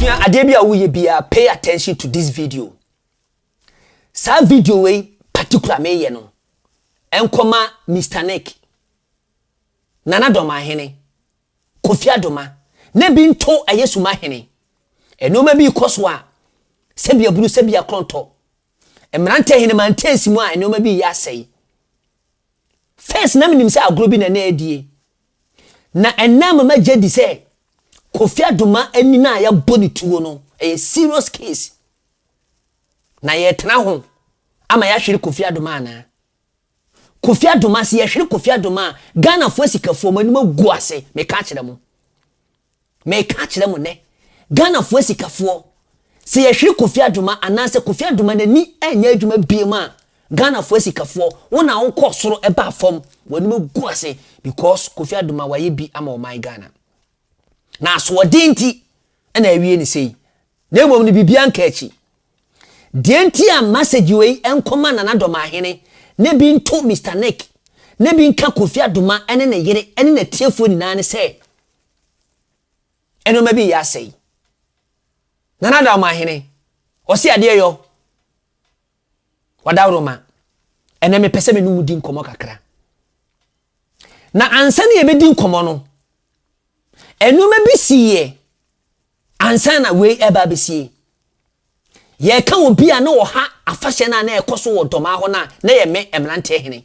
sua adeɛ bi a woyɛ biara pay attention to this video saa video wei particular meyɛ no ɛnkɔma mr nick Nana Domahene, Kofi Adoma, na bi nto ɛyɛ Sumahene. Nnoɔma bi rekɔ so a, sɛbi abunu, sɛbi akorɔntɔ. Mmerantɛ Ahenemaa nteesi mu a nnoɔma bi reyɛ asɛe. First na menim sɛ agorɔ bi na na ɛredie. Na ɛnnɛ ama magye adi sɛ Kofi Adoma ani no a yɛabɔ ne tuo no, ɛyɛ serious case. Na yɛretena ho ama yɛahwere Kofi Adoma anaa? Kofi Adoma se yɛhwere Kofi Adoma a Ghanafoɔ asikafoɔ mo anim agu ase meka akyerɛ mo meka akyerɛ mo nɛ Ghanafoɔ asikafoɔ se yɛhwere Kofi Adoma anaasɛ Kofi Adoma nani anyɛ adwuma biom a Ghanafoɔ asikafoɔ wo na wo kɔɔ soro baa fam w'anim agu ase because Kofi Adoma wayɛ bi ama ɔman Ghana na asoɔden nti na awie no sei na mmom no biribiara nka akyi Deɛ nti a message wei nkɔma Nana Dɔmahene na bi nto Mister Nick na bi nka Kofi Adoma ne ne yere ne natiefoɔ nyinaa ne sɛ, nnoɔma bi reyɛ asɛe. Nana Dɔmahene, ɔse adeɛ yɔ, Wadaworoma, ɛnɛ mepɛ sɛ me ne wo di nkɔmmɔ kakra. Na ansa na yɛbɛdi nkɔmmɔ no, nnoɔma bi siiɛ Ansa na wei reba abesie, yɛreka obi a na ɔha afahyɛ no a na ɛkɔ so wɔ Dɔmaa hɔ no a na ɛyɛ me mmeranteɛ hene.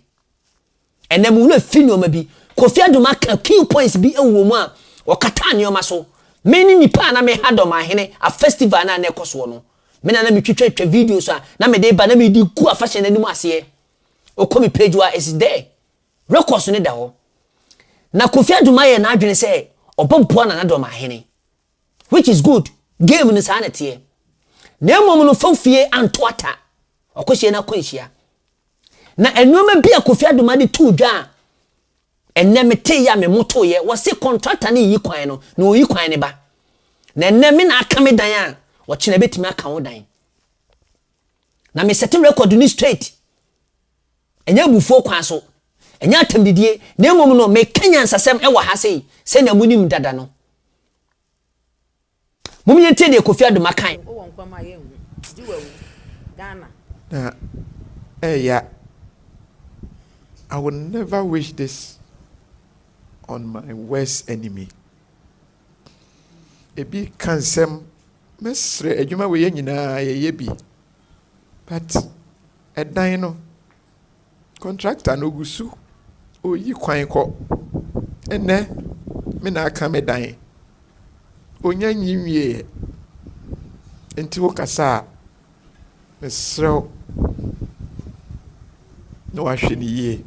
Ɛnnɛ mo werɛ fi nnoɔma bi. Kofi Adum aka key points bi wɔ mu a ɔkataa nnoɔma so. Me ne nipa a na meha Dɔmaa hene a festival no a na ɛkɔ soɔ no. Me na na metwitwa twa videos a na mede ba na mede gu afahyɛ no anim aseɛ. Wokɔ me page hɔ a it's there. rekɔ so no da hɔ. Na Kofi Adum ayɛ n'adwene sɛ ɔbɛboa Nana Dɔm Ahene. Which is good, game no saa na ɛteɛ. Na mmom no fam fie anto ata, ɔkɔhyia no akwanhyia. Na nnoɔma bi a Kofi Adum ade too dwa a ɛnnɛ meteeɛ a memotoeɛ, wɔse kɔntrata no nyi kwan no, na ɔyi kwan no ba. Na ɛnnɛ me na aka me dan a, ɔkyena ɛbɛtumi aka wo dan. Na mesɛte record no straight. Ɛnyɛ abufuo kwan so, ɛnyɛ atɛmdidie, na mmom no, meka nyansasɛm wɔ ha sei, sɛnea monim dada no. Mom yɛntie deɛ Kofi Adoma kae. Wowɔ nkwa mu a yɛnhu, gye wawu. Ghana. Na ɛya I will never wish this on my worst enemy. Ebi ka nsɛm mɛsrɛ adwuma wei yɛ nyinaa yɛyɛ bi but Ɛdan no, contractor no ɔgu so ɔyi kwan kɔ. Ɛnnɛ me na aka me dan. Ɔnya nyi nwieɛ. Nti wo kasa a, mesrɛ wo na wahwɛ no yie.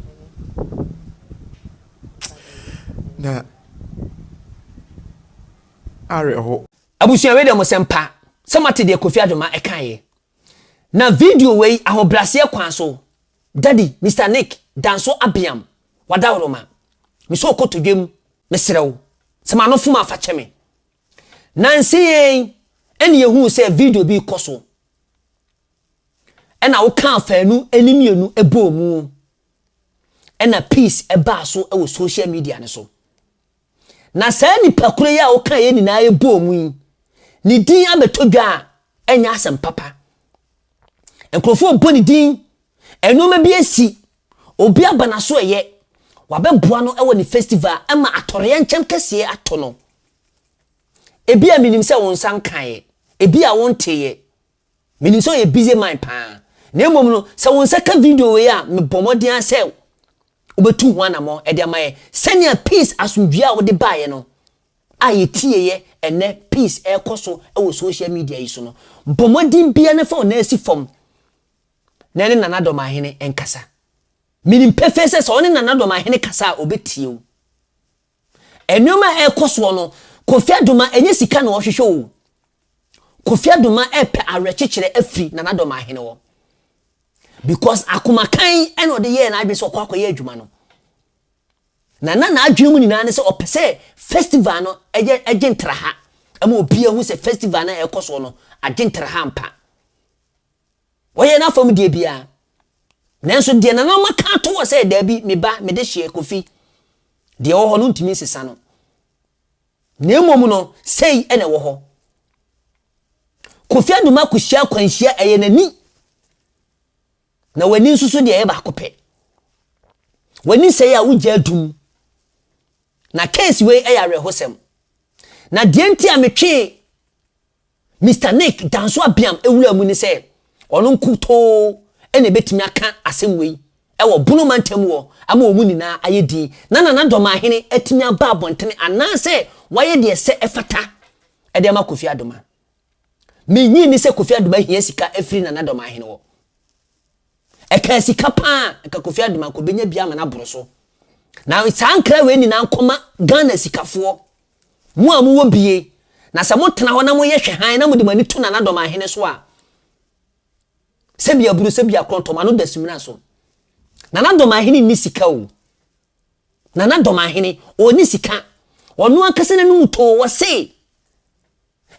Na awerɛho. Abusua wei deɛ mo sɛm pa sɛ moate deɛ Kofi Adwoma ɛkaeɛ. Na video wei ahobraseɛ kwan so daddy Mister Nick Danso Abeam Wadawroma me sɛ ɔkɔ todwam me serɛ wo sɛ ma no fom a fa kyɛ me Nansa yi ɛna yɛhuu sɛ video bi rekɔ so ɛna wo kaa faanu ɛne mmienu ɛbɔɔ mu ɛna peace ɛbaa so ɛwɔ social media no so. Na saa nnipakuno yi a wokaa yɛn nyinaa yɛ bɔɔ mu yi, ne din abɛtɔ dwa a, ɛnyɛ asɛm papa. Nkurɔfoɔ rebɔ ne din, nnoɔma bi asi, obi aba n'aso ɛyɛ, wabɛboa no ɛwɔ ne festival ɛma atɔreɛnkyɛm kɛseɛ atɔ no. Ebia menim sɛ wo nsa nkaeɛ, ebia wonteeɛ. Menim sɛ ɔyɛ busy man paa, na mmom no, sɛ wo nsa ka video wei a, mebɔ mmɔden ara sɛ wobɛtu ho anammɔn de ama yɛn sɛnea Peace asomdwoeɛ a wode baeɛ no a yɛtieeɛ ɛnnɛ Peace ɛrekɔ so wɔ social media yi so no. Bɔ mmɔden biara na fa wo nan si fam na ɛne Nana Dɔmahene nkasa. Menim pefee sɛ sɛ wo ne Nana Dɔmahene kasa a, ɔbɛtie wo. Nneɛma a ɛrekɔ soɔ no, Kofi Addo ma ɛnyɛ sika na ɔhwehwɛ oo. Kofi Addo ma ɛrepɛ awerɛkyekyerɛ afiri Nana Dɔ Mahene hɔ. Because akoma kann ɛna ɔde yɛɛ n'adwene sɛ ɔkɔ akɔyɛ adwuma no. Na na n'adwene mu nyinaa ne sɛ ɔpɛ sɛ festival no ɛyɛ ɛgye ntraha ɛma obiara hu sɛ festival no a ɛrekɔ soɔ no agye ntraha ampa. Wɔyɛ no afam deɛ biara. Nanso deɛ nananom aka ato hɔ sɛ daabi, me ba, mede hyeɛ, Kofi, deɛ ɛwɔ hɔ no wontumi nsesa no. Na mmom no, sei na ɛwɔ hɔ. Kofi Aduma kɔhyia akwanhyia, ɛyɛ n'ani. Na w'ani nso so deɛ ɛyɛ baako pɛ. W'ani sɛe a wogya adum. Na case wei ɛyɛ awerɛhosɛm. Na deɛ nti a metwee Mister Nick Danso Abiam wuraa mu ne sɛ ɔno nkutoo na ɛbɛtumi aka asɛm wei wɔ Bono mantam hɔ ama wɔn nyinaa ayɛ din na Nana Domahene atumi aba abɔntene anaasɛ wayɛ deɛ ɛsɛ ɛfata de ama Kofi Adoma. Mennye nni sɛ Kofi Adoma hia sika afiri Nana Domahene hɔ. Ɛkaa sika pa ara nka Kofi Adoma nkɔbɛnya bi ama no aboro so. Na saa nkra wei nyinaa nkɔma Ghana sikafoɔ Mo a mowɔ bie, na sɛ motena hɔ na moyɛ hwɛ hann na mode mo ani to nanadɔm ahene so a, sɛbia buru, sɛbia krɔntɔm ano da simina so. Nanadɔm ahene nni sika o. Nanadɔm ahene, ɔnni sika. Ɔno ankasa n'anom too, ɔse.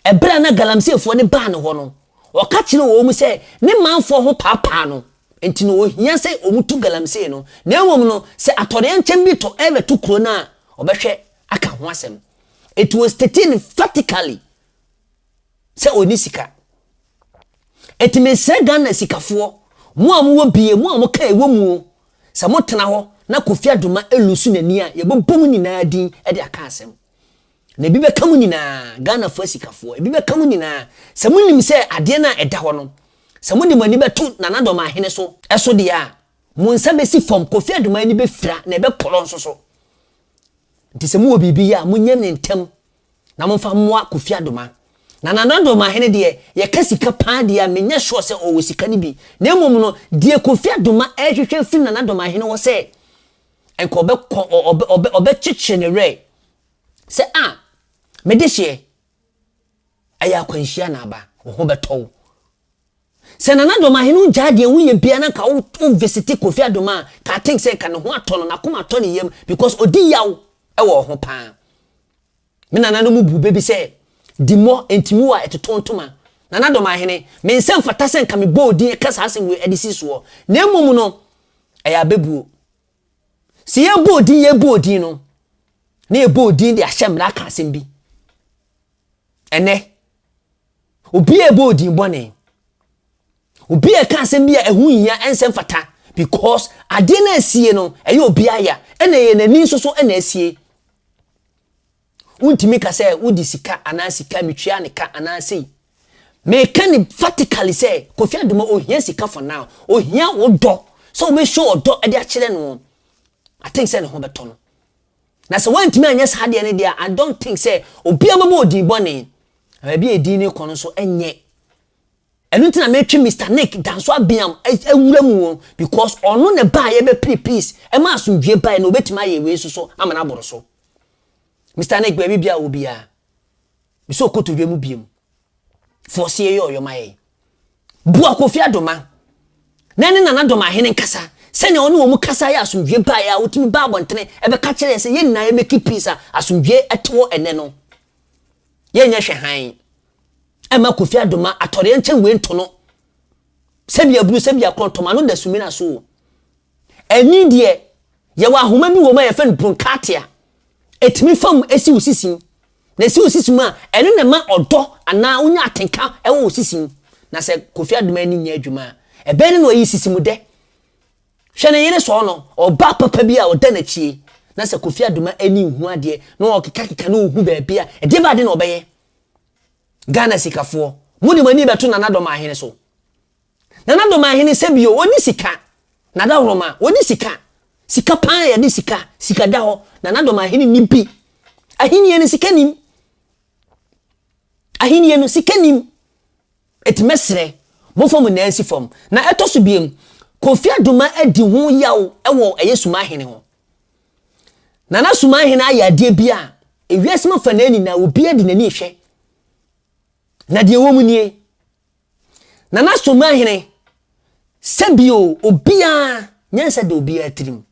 Ɛberɛ a na Galamseefoɔ no baa ne hɔ no, ɔka kyerɛɛ wɔn sɛ ne manfoɔ ho paapaa no, enti na ɔnhia sɛ wɔtu galamsee no, na mmom no, sɛ atɔdeɛnkyɛm bi tɔ rebɛto kuro no a, ɔbɛhwɛ aka ho asɛm. It was stated emphatically sɛ ɔnni sika. Enti mesrɛ Ghana sikafoɔ, mo a mowɔ bie, mo a moka ɛwɔ mu o, sɛ motena hɔ na Kofi Adomah ɛlusu n'ani a, yɛbɛbɔ mo nyinaa din de aka asɛm. Na ebi bɛka mo nyinaa, Ghanafoɔ asikafoɔ, ebi bɛka mo nyinaa, sɛ monim sɛ adeɛ no a ɛda hɔ no, sɛ mode mo ani bɛto Nana Dɔmahene so, so deɛ a, mo nsa bɛsi fam, Kofi Aduman ani bɛfira na ɛbɛkorɔ nso so. Nti sɛ mowɔ biribi yɛ a, monyɛ no ntɛm na momfa mmoa Kofi Adoma. Na Nana Dɔmahene deɛ, yɛka sika pa ara deɛ a, menyɛ sure sɛ ɔwɔ sika no bi, na mmom no, deɛ Kofi Adoma rehwehwɛ afiri Nana Dɔmahene hɔ sɛ, nka ɔbɛkɔ, ɔ, ɔ, ɔbɛ, ɔbɛkyekyere ne werɛ, Sɛ a, me dehyeɛ, ɛyɛ akwanhyia na aba, wo ho bɛtɔ wo. Sɛ Nana Domahe no gyaa deɛ woyɛ biara na nka wo visiti Kofi Adom a, ka I think sɛ nka ne ho atɔ no, n'akoma atɔ ne yam because ɔdi yaw wɔ ɔho paa. Me Nana no mu bu bɛ bi sɛ, Dimmɔ, Ntimiwo a ɛtotoɔ ntoma. Nana Domahene, me nsa mfata sɛ nka mebɔ wo din ka saa asɛm wei de si soɔ. Na mmom no, ɛyɛ abɛbuo. Sɛ yɛbɔɔ din, yɛbɔɔ din no, na yɛbɔɔ din de ahyɛ mmara ka asɛm bi. Ɛnɛ, obi a ɛbɔɔ din bɔne, obi a ɛka asɛm bi a ɛho hia ɛnsɛ mfata because adeɛ no asie no, ɛyɛ obi aya, ɛna ɛyɛ n'ani nso so ɛna asie. Wontumi ka sɛ wode sika anaa sika metua ne ka anaa sei. Meka no emphatically sɛ Kofi Adumo ohia sika for now, ohia wo dɔ sɛ wobɛ show ɔdɔ de akyerɛ no. I think sɛ ne ho bɛtɔ no. Na sɛ woantumi anyɛ saa adeɛ no deɛ a, I don't think sɛ obiara bɛbɔ wo din bɔne. Na baabi a edin no rekɔ no nso ɛnyɛ. Ɛno nti na metwe Mister Nick Danso Abiam awura mu o, because ɔno na ɛbaeɛ bɛpere peace, ɛma asomdwoeɛ baeɛ na ɔbɛtumi ayɛ wei nso so ama no aboro so. Mister Nick baabi bia wɔ biara. Mesɛ okoto dwa mu biom. Fɔɔse yɛ yɛ ɔyɔ ma yɛn. Boa Kofi Adoma na ne Nana Dɔm ahene nkasa sɛnea wɔne wɔn kasa yɛ asomdwoe baeɛ a wotumi baa abɔntene ɛbɛka kyerɛ yɛn sɛ yɛn nyinaa yɛ make peace a asomdwoe ɛte hɔ ɛnɛ no. Yɛn nyɛ hwɛ hann. Ɛma Kofi Adoma atɔreɛ nkyɛn wei nto no. Sɛbi abunu sɛbi akorɔn tɔm ano da sumina so o. Ɛnne deɛ, yɛwɔ ahoma bi wɔ mu a yɛfrɛ no bronkatia. Ɛtumi fa mu si wo sisi mu. Na ɛsi wo sisi mu a, ɛno na ɛma ɔdɔ anaa wonya atenka wɔ wo sisi mu. Na sɛ Kofi Aduman ani nyɛ adwuma a, ɛbɛn no na ɔyi sisi mu dɛ. Hwɛ ne yere sɔɔ no, ɔbaa papa bi a ɔda n'akyi yi, na sɛ Kofi Aduman ani nhu adeɛ na ɔkekakeka na ɔhu baabi a, ɛdeɛ bɛn ade na ɔbɛyɛ? Ghana sikafoɔ, mode mo ani bɛto Nana Dɔm Ahene so? Nana Doma ahene sɛ bio wɔn ni sika na dahoroma wɔn ni sika sika paa yɛ de sika sika da hɔ Nana Doma ahene ni bi ahinie no sika nim ahinie no sika nim eti mɛsrɛ mo fam nyinaa nsi fam na ɛtɔ so biem Kofi Adoma adi ho yaw ɛwɔ ɛyɛ suma ahene ho Nana suma ahene ayɛ adeɛ bi a ewiase mu fa na nyinaa obi adi n'ani ehwɛ na deɛ wɔn mu nie Nana Somahene, sɛ bio obiara nyansa da obiara tirim.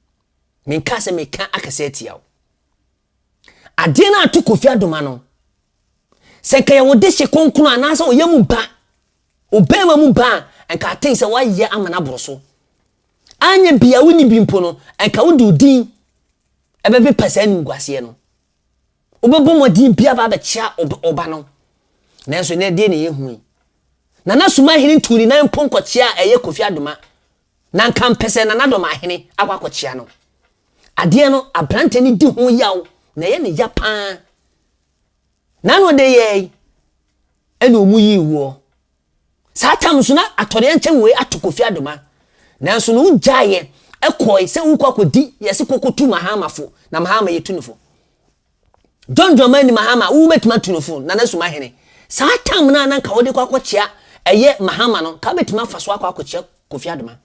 Menka sɛ meka akɛsɛ atia wo. Adeɛ no ato Kofi Adoma no, sɛ nka yɛ wo de hye kronkron anaasɛ ɔyɛ mu ba, ɔbɛrima mu ba a, nka aten sɛ woayɛ ama no aboro so. Anyɛ bia wonni bi mpo no, nka wode odin ɛbɛpepa saa animguaseɛ no. Wobɛbɔ mmɔden biara aba abɛkyea wo ba no, nanso ɛnnɛ ɛdeɛn na ɛyɛ hu yi? Nana Sumahene tuu ne nan mpo nkɔkyeaa ɛyɛ Kofi Adoma, na anka mpɛ sɛ Nana Dɔmahene akɔ akɔkyea no. Adeɛ no, aberanteɛ no di ho yaw na ɛyɛ no ya pa ara. N'ano adeyɛɛ yi na wɔyii woɔ. Saa tam no so na atɔreɛnkyɛm wei ato Kofi Adoma nanso no wo gyaeɛ kɔɔe sɛ wo kɔ akɔ di yɛ se kɔkɔ tu Mahama fo na Mahama yɛ tu no fo John Dramani Mahama wo bɛtumi atu no fo Nana Sumahene saa tam no a na nka wo de kɔ akɔ kyea ɛyɛ Mahama no nka wo bɛtumi afa so akɔ akɔ kyea Kofi Adoma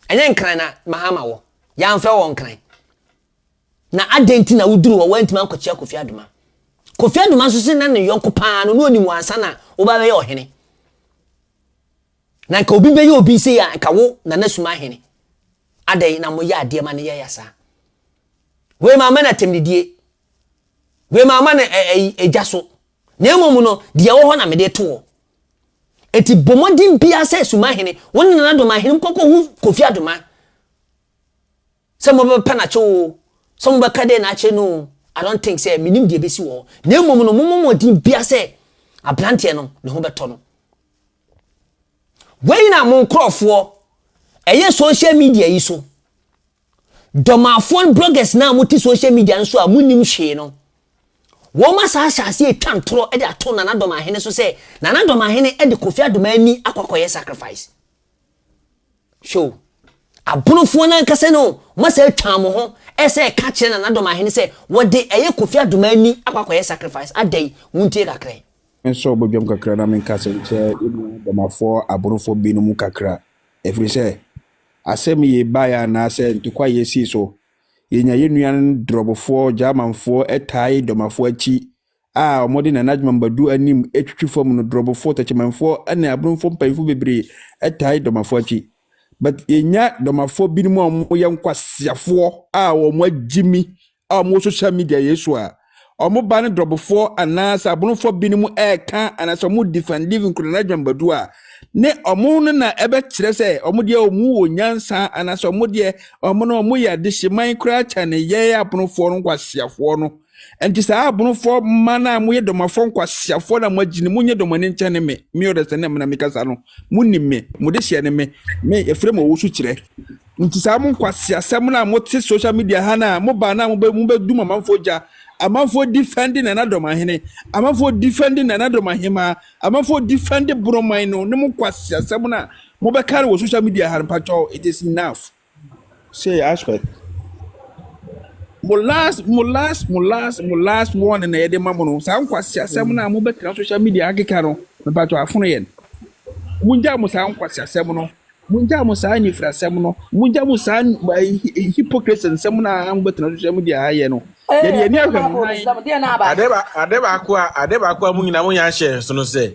ɛnyɛ Nkran na Mahama wɔ yɛ amfɛ wɔ Nkran. Na adɛn nti na woduruu hɔ a woantumi ankɔkyia Kofi Adoma? Kofi Adoma nso se na ne yɔnko pa ara no, na onim wo ansa na woba bɛyɛ ɔhene. Na nka obi bɛyɛ obi sei a, nka wo na na suma ahene. Adɛn na moyɛ adeɛ ma no yɛ ya saa? Wei mamma no atɛmdidie. Wei mamma no ɛ ɛyi egya so. Na mmom no, deɛ ɛwɔ hɔ na mede reto hɔ. Enti bɔ mmɔden biara sɛ suma ahene, wo ne Nana Domahenem nkɔkɔhu Kofi Adoma. Sɛ mobɛpɛ no akyɛ oo, sɛ mobɛka dɛn na akyɛ no oo, I don't think sɛ menim deɛ ɛbɛsi wɔ hɔ. Na mmom no, mommɔ mmɔden biara sɛ aberanteɛ no, ne ho bɛtɔ no. Wei na mo nkorɔfoɔ ɛyɛ social media yi so, dɔmafoɔ bloggers no a mote social media no so a monnim hwee no, wɔn asan ahyɛ aseɛ retwa ntorɔ de ato Nana Dɔmahene so sɛ Nana Dɔmahene de Kofi Adomaa ani akɔ akɔyɛ sacrifice. Hwɛ o, aborofoɔ no ankasa no wɔn asɛ atwa wɔn ho ɛsɛ ɛka kyerɛ na n'adɔm ahene sɛ wɔde ɛyɛ Kofi Adoma ani akɔ akɔyɛ sacrifice adɛn wontie kakra yi. Mensɔ ɔbɔdwam kakra na menka asɛm nkyerɛ yɛn nua Bamafoɔ aborofoɔ binom kakra ɛfiri sɛ asɛm yei baeɛ anaasɛ ntɔkwa yei sii so yɛnya yɛn nua Drɔbofoɔ Gyamanfoɔ tae Domafoɔ akyi a wɔde Nana Adjumam Badu anim twitwi fam no Drɔbofo, Techimanfoɔ ne Abromfo mpanyimfo bebree tae Dɔmafo akyi. But yɛnya Dɔmafo binom a wɔyɛ nkwaseafoɔ a wɔn agyimi a wɔn wɔ social media yɛ so a wɔn ba ne Drɔbofo anaa sɛ Abromfo binom ɛɛka anaa sɛ wɔn defend even kura Nana Adjumam Badu a ne wɔn no na ɛbɛkyerɛ sɛ wɔn deɛ wɔn wɔ nyansa anaa sɛ wɔn deɛ wɔn no wɔn yɛ adehyeman koraa kyɛne yɛn Abromfo no nkwaseafoɔ no Enti saa abonofoɔ mma no a moyɛ dɔmafoɔ nkwaseafoɔ na moagyi no, monyɛ dɔm ani nkyɛne me, me ɔdasani na mekasa no, monim me, mo dehyeɛ ne me, me yɛfrɛ me ɔwosu kyerɛ. Nti saa mo nkwaseasɛm no a mote social media ha no a mobaa no a mobɛdum amanfoɔ gya, amanfoɔ defɛnde Nana Dɔm ahene, amanfoɔ defɛnde Nana Dɔm ahemaa, amanfoɔ defɛnde Boroman no ne mo nkwaseasɛm no a mobɛka no wɔ social media ha no, mpakyɛw, it is enough. Say aspect. Mo last mo last mo last mo last warning na yɛde ma mo no saa nkwasi asɛm no a mo bɛtena social media akeka no mepatɔ afono yɛn mo ngya mo saa nkwasi asɛm no mo ngya mo saa anifira asɛm no mo ngya mo saa hypocrisy nsɛm no a mo bɛtena social media ha yɛ no yɛde yɛn ani ahwɛ mo han. Ade baako a ade baako a mo nyinaa mo nyinaa hyɛ so no sɛ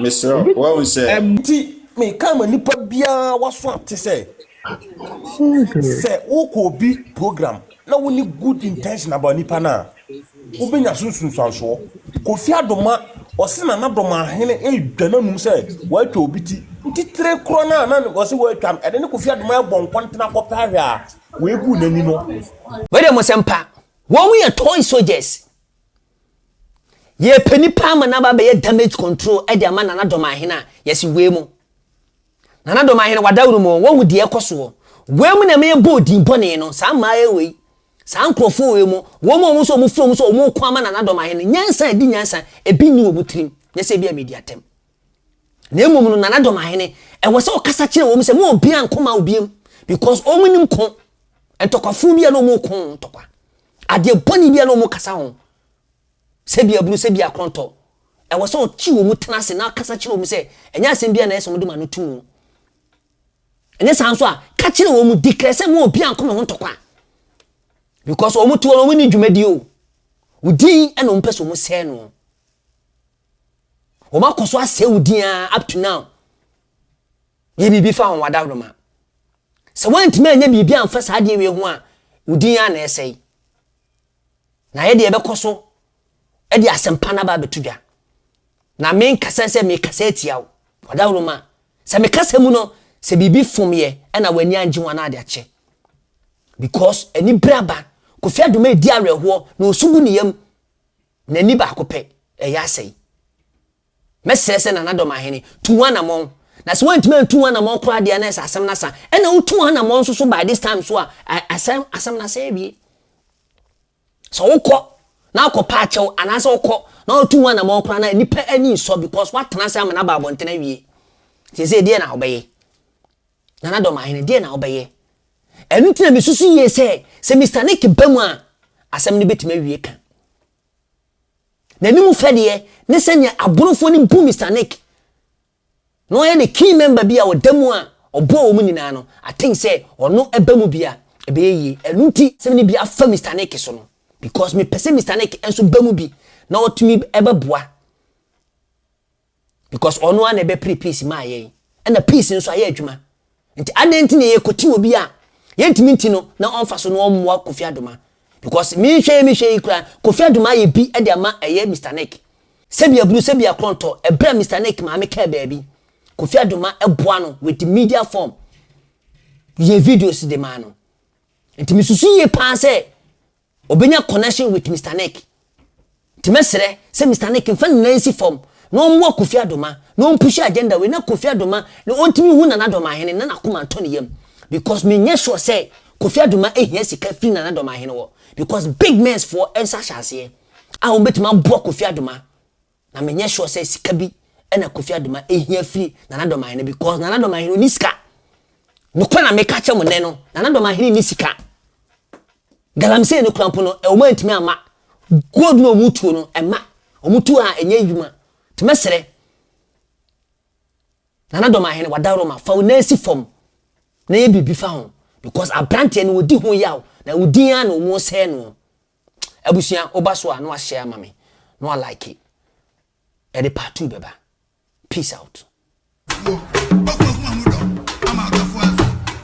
Mesrɛ wo, woahu sɛ. Enti meka ma nipa biara waso ate sɛ, sɛ wokɔ obi program na wonni good intention about nipa no a, wobɛnya so nsunsuansoɔ. Kofi Adoma, ɔse Nana Domahene ɛredwa n'anum sɛ watwa obi ti, nti tire korɔ no a na ɔse watwa no, ɛde ne Kofi Adoma ɛrebɔ nkɔntena kɔpɛ ahwɛ a wei gu n'ani no. Wei deɛ mo sɛm pa. Wɔn yɛ toy soldiers. Yɛrepɛ nipa ama no aba abɛyɛ damage control de ama Nana Dɔmahene a, yɛse wei mo. Nana Dɔmahene, w'adaworo mu, woahu deɛ ɛkɔ soɔ. Wei mo na ɛma yɛbɔɔ din bɔne no, saa mmaayɛ wei, saa nkorɔfoɔ wei mo, wɔn a wɔn nso wɔn frɛ wɔn sɛ wɔn reko ama Nana Dɔmahene, nyansa a ɛdi nyansa, ebi nni wɔn tirim, nyɛ sɛ ebi a media atɛm. Na mmom no, Nana Dɔmahene, ɛwɔ sɛ ɔkasa kyerɛ wɔn sɛ mo obiara nko ma obiam, because wɔn nim ko, ntɔkwafoɔ bi a na wɔn reko ntɔkwa. Adeɛ bɔne biara a wɔkasa ho, sɛ bi abunu, sɛ bi akorɔntɔ, ɛwɔ sɛ ɔte wɔn tena ase na kasa kyerɛ wɔn sɛ ɛnyɛ asɛm biara na ɛyɛ sɛ wɔde ma no to mu. Ɛnyɛ saa nso a, ka kyerɛ wɔn mu declare sɛ mo obi anko me ho ntɔkwa because wɔn te hɔ no wɔn ni dwumadi o. Wodin ɛna wɔn pɛ sɛ wɔn sɛɛ no. Wɔn akɔ so asɛe wodin a up to now. Yɛ biribi fa wɔn adaworoma. Sɛ woantumi anyɛ biribi amfa saa adeɛ wei ho a, wo din ara na ɛresɛe. Na yɛde yɛbɛkɔ so de asɛmpa no aba abɛto dwa. Na menkasa sɛ mekasa atia wo. W'adaworoma. Sɛ me kasa mu no, sɛ biribi fom yɛ ɛna w'ani angye ho a na ade akyɛ. Because anibere aba. Kofi Adoma redi awerɛhoɔ na ɔsu gu ne yam. N'ani baako pɛ, ɛyɛ asɛe. Mɛsrɛ sɛ Nana Dɔmahene, tu w'anamɔn. Na sɛ woantumi antu w'anamɔn koraa deɛ a na ɛsɛ asɛm no asa. Ɛna wotu w'anamɔn nso so by this time so a, asɛ, asɛm no asɛ awie. Sɛ wokɔ na akɔpɛ akyɛw anaasɛ wokɔ na wotu w'anamɔn koraa no a, nnipa ani nsɔ because woatena ase amena aba abɔnten awie. Seesei deɛ na wobɛyɛ? Nana Dɔmahene, deɛ na wobɛyɛ? Ɛno nti na mesusu yie sɛ, sɛ Mister Nick ba mu a, asɛm no bɛtumi awie ka. N'anim fɛdeɛ ne sɛnea aborofoɔ no bu Mister Nick na ɔyɛ the key member bi a ɔda mu a ɔboa wɔn nyinaa no, I think sɛ ɔno ba mu bi a, ɛbɛyɛ yie. Ɛno nti sɛ me ne bi afa Mister Nick so no, because mepɛ sɛ Mister Nick nso ba mu bi na ɔtumi bɛboa. because ɔno ara na ɛbɛpere peace maa yɛn ɛna peace nso ayɛ adwuma nti adɛn nti na yɛkɔti obi a yɛntumi nti no na ɔmfa so na ɔmmoa Kofi Adoma because mehwɛ yi mehwɛ yi koraa Kofi Adoma ayɛ bi de ama ɛyɛ Mr Nick sɛbi aburu sɛbi akorɔntɔ ɛberɛ a Mr Nick maame kaa baabi Kofi Adoma ɛboa no with the media form yɛ videos de maa no nti mesusu yie paa sɛ Obenya connection with Mister Nick nti mɛsrɛ sɛ Mister Nick nfa ne nan nsi fam na ɔmmoa Kofi Adoma na ɔmpushi agenda wei na Kofi Adoma na ɔntumi nhu Nana Adomahene na n'akoma ntɔ ne yam because menyɛ sure sɛ Kofi Adoma hia sika firi Nana Adomahene hɔ because big mensfoɔ nsa hyɛ aseɛ a wɔbɛtumi aboa Kofi Adoma. Na me nyɛ sure sɛ sika bi ɛna Kofi Adoma ɛhia firi Nana Dɔmahene bi cause Nana Dɔmahene ɔni sika. Nokorɛ na meka kyɛ mo nnɛ no Nana Dɔmahene nni sika. Galamsey no kora mpo no ɛwɔ mu a ɛntumi amma. Gold no a ɔmo tuo no ɛmma. Ɔmo tu a ɛnyɛ adwuma. Nti mɛsrɛ Nana Dɔmahene wadaworo ma fa wo nan si fam na yɛ biribi fa ho because abranteɛ no ɔdi ho yaw na wo din ara na ɔmo sɛɛ noɔ. abusua woba so a na wahyɛ ama me na wa like ɛde part two bɛba peace out.